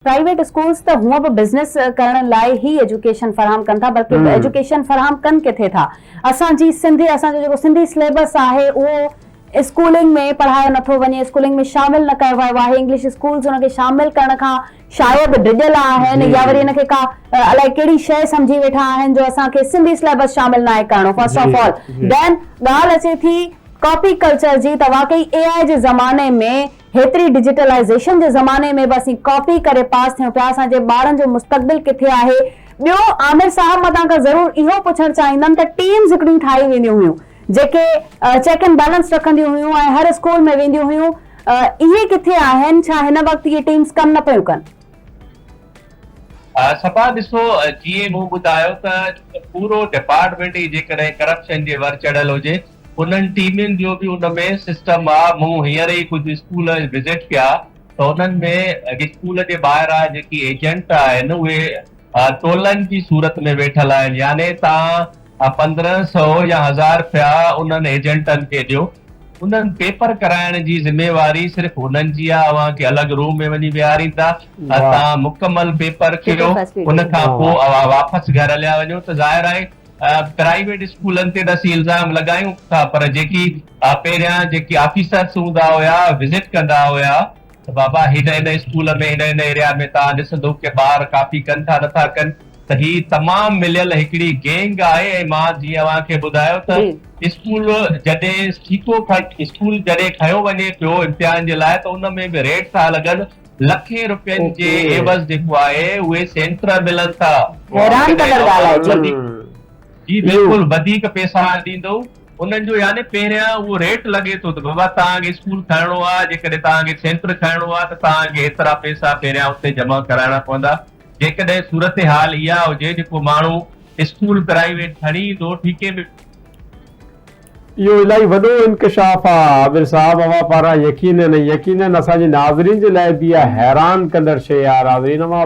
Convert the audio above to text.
private schools ته هونئن به بزنس ڪرڻ لاء هي ايجوڪيشن فراهم ڪن ٿا بلڪه ايجوڪيشن فراهم ڪن ڪٿي ٿا اسان جي سنڌ اسان جو جيڪو سنڌي سليبس آهي اهو اسڪولنگ ۾ پڙهايو نٿو وڃي اسڪولنگ ۾ شامل نه ڪيو ويو آهي انگلش اسڪولز ان کي شامل ڪرڻ کان شايد ڊڄل آهن يا وري ان کي ڪا الائي ڪهڙي شيء سمجهي ويٺا آهن جو اسان کي سنڌي سليبس شامل ناهي ڪرڻو فرسٽ آف آل دين ڳالهه اچي ٿي ڪاپي ڪلچر جي ته واقعي اي آئي جي زماني ۾ هيتري ڊجيٽلائيزيشن جي زماني ۾ به اسين ڪاپي ڪري پاس ٿيون پيا اسان جي ٻارن جو مستقبل ڪٿي آهي ٻيو عامر صاحب مان توهان کان ضرور اهو پڇڻ چاهيندم ته ٽيمز هڪڙيون ٺاهي وينديون هيون جيڪي چيڪ اينڊ بيلنس رکنديون هيون ۽ هر اسڪول ۾ وينديون هيون اهي ڪٿي آهن ڇا هن وقت اهي ٽيمز ڪم نه پيون ڪن صبا ڏسو جيئن مون ٻڌايو ته پورو ڊپارٽمينٽ ئي جيڪڏهن ڪرپشن جي ور چڙهيل هجي انهن ٽيمن جو به ان ۾ سسٽم آ، مون هينئر ئي ڪجهه اسڪول وزٽ ڪيا ته انهن ۾ اسڪول جي ٻاهران جيڪي ايجنٽ آهن اهي ٽولن جي صورت ۾ ويٺل آهن يعني تان پندرهن سئو يا هزار رپيا انهن ايجنٽن کي ڏيو، انهن پيپر ڪرائڻ جي ذميواري صرف انهن جي آ، اوهان کي الڳ روم ۾ وڃي ويهاريندا، تان مڪمل پيپر ڪيو ان کان پوء اوهان واپس گهر هليا وڃو ته ظاهر آهي پرائيويٽ اسڪولن تي ته اسين الزام لڳايون ٿا پر جيڪي پهريان جيڪي آفيسرس هوندا هيا وزٽ ڪندا هيا ته بابا هن هن اسڪول ۾ هن هن ايريا ۾ توهان ڏسندو ڪي ٻار ڪاپي ڪن ٿا نٿا ڪن ته هي تمام مليل هڪڙي گينگ آهي ۽ مان جيئن اوهان کي ٻڌايو ته اسڪول جڏهن سٺيڪو اسڪول جڏهن کنيو وڃي پيو امتحان جي لاء ته ان ۾ به ريڊ ٿا لڳن لکين روپين جي عيوض جيڪو آهي اهي سينٽر ملن ٿا حيران ڪندڙ ڳالهه آهي جي جي بلڪل وڌيڪ پئسا ڏيندو انهن جو يعني پهريان اهو ريٽ لڳي ٿو ته بابا توهان کي اسڪول ٺاهڻو آهي جيڪڏهن توهان کي سينٽر ٺاهڻو آهي ته توهان کي هيترا پئسا پهريان اتي جمع ڪرائڻا پوندا جيڪڏهن صورتحال اها هجي جيڪو ماڻهو اسڪول پرائيويٽ کڻي ايندو ٺيڪي ۾ اهو الاهي وڏو انڪشاف آ عامر صاحب اوهان پاران يقينن ۽ يقينن اسان جي ناظرين جي لاء به اها حيران ڪندڙ شيء آ ناظرين اوهان